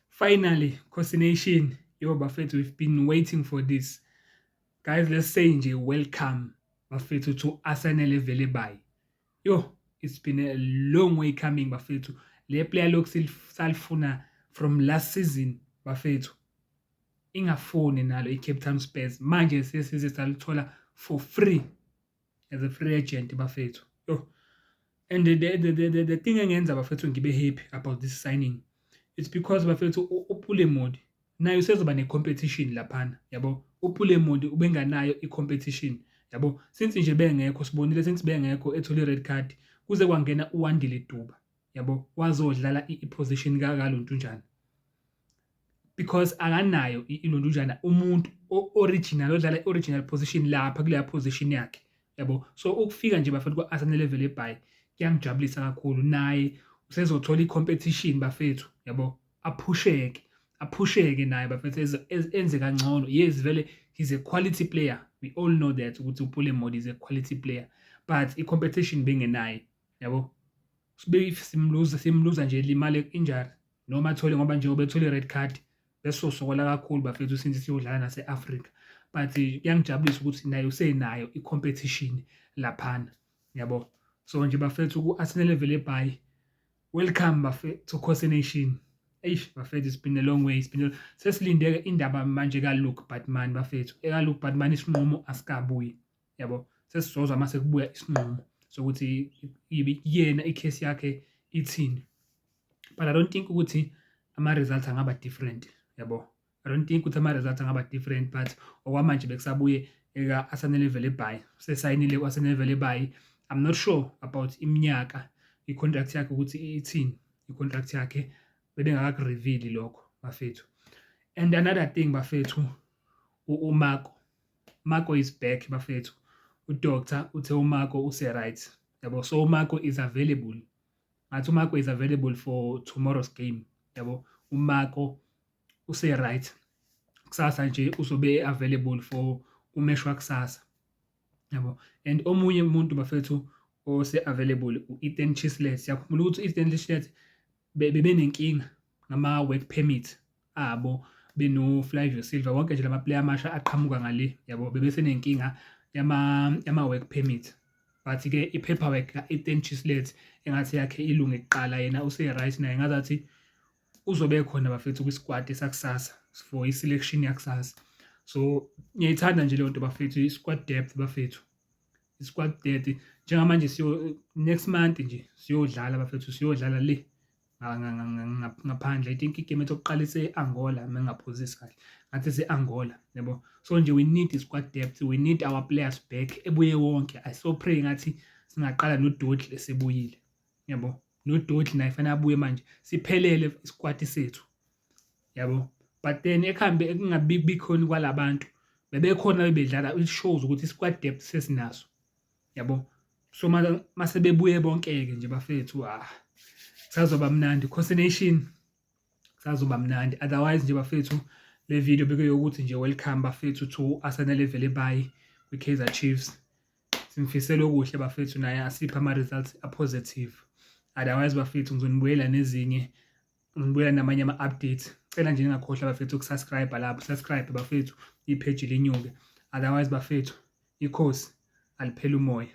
Finally Khosi Nation yo bafethu we've been waiting for this guys let's say nje welcome bafethu to Asanele Velebhayi yo it's been a long way coming bafethu le player lokhu salifuna from last season bafethu ingafuni nalo iCape Town Spurs manje sesize salithola for free as a free agent bafethu yo and the, the, the, the, the thing engenza bafethu ngibe happy about this signing it's because bafethu upulemodi naye usezoba ne-competition laphana yabo upulemodi ubenganayo i-competition yabo since nje bengekho sibonile since bengekho ethole i-red card kuze kwangena uwandile duba yabo wazodlala i-position kakalontunjana because akanayo ilondujana umuntu original odlala original position lapha kuleya position yakhe yabo so ukufika nje bafethu kwa-arsenal level ebhayi kuyangijabulisa kakhulu naye usezothola i-competition bafethu yabo aphusheke aphusheke naye bafethu enze kangcono yes vele he's a quality player we all know that ukuthi upule modi is a quality player but i-competition bengenaye yabo sibe if simluza simluza nje limale injury noma athole ngoba njengoba ethole i-red card besosokola kakhulu bafethu since siyodlala nase-afrika but kuyangijabulisa ukuthi naye usenayo i-competition laphana yabo so nje bafethu ku-arsenal level ebhayi welcome bafethu course nation eish bafethu it's been a long way it's been a... sesilindeke indaba manje kaluke batman bafethu ekaluke batman isinqumo asikabuyi yabo sesizozwa uma sekubuya isinqumo sokuthi yena ikhesi yakhe ithini but i don't think ukuthi ama-results angaba different yabo i don't think ukuthi ama-results angaba different but okwamanje bekusabuye eka-arsenal evele by sesayinile ku-arsenal evele by i'm not sure about iminyaka i-contract yakhe ukuthi ithini i-contract yakhe bebengakakurevili lokho bafethu and another thing bafethu umako Marco is back bafethu. UDoctor uthe uMarco use-right. Yabo, so uMarco is available. Ngathi uMarco is available for tomorrow's game. Yabo, uMarco use-right. Kusasa nje uzobe available for umesh wakusasa. Yabo, and omunye umuntu bafethu ose-available u-Ethan Chislett. Siyakhumbula ukuthi u-Ethan Chislett bebenenkinga ngama-work permit abo benoFlavio Silva wonke nje lama player amasha aqhamuka ngale yabo bebese nenkinga yama yama work permit but ke i paperwork ka Ethan Chislet engathi yakhe ilunge kuqala yena use right naye ngazathi uzobe khona bafethu kwi squad esakusasa for i selection yakusasa so ngiyayithanda nje leyo nto bafethu i squad depth bafethu i squad depth njengamanje siyo next month nje siyodlala bafethu siyodlala le ngaphandle i think igame ethi okuqala ise-angola uma ngingaphuzisi kahle ngathi ise-angola yabo so nje we need i-squad depth we need our players back ebuye wonke i so pray ngathi singaqala nododli esebuyile yabo nododli naye fanele abuye manje siphelele i-squad sethu yabo but then ekuhambe ekungabikhoni kwalabantu bebekhona bebedlala it shows ukuthi i-squad depth sesinaso yabo so mase bebuye bonke-ke nje bafethu ah sazoba mnandi cocination sazoba mnandi otherwise nje bafethu le video bekuyokuthi nje welcome bafethu to Arsenal evele bayi kwi-Kaizer Chiefs simfisela okuhle bafethu naye asipha ama-results a-positive otherwise bafethu ngizonibuyela nezinye ngibuya namanye ama-updates cela nje ningakhohlwa bafethu ukusubscribe lapho subscribe bafethu ipheji linyuke otherwise bafethu ikhosi aliphela umoya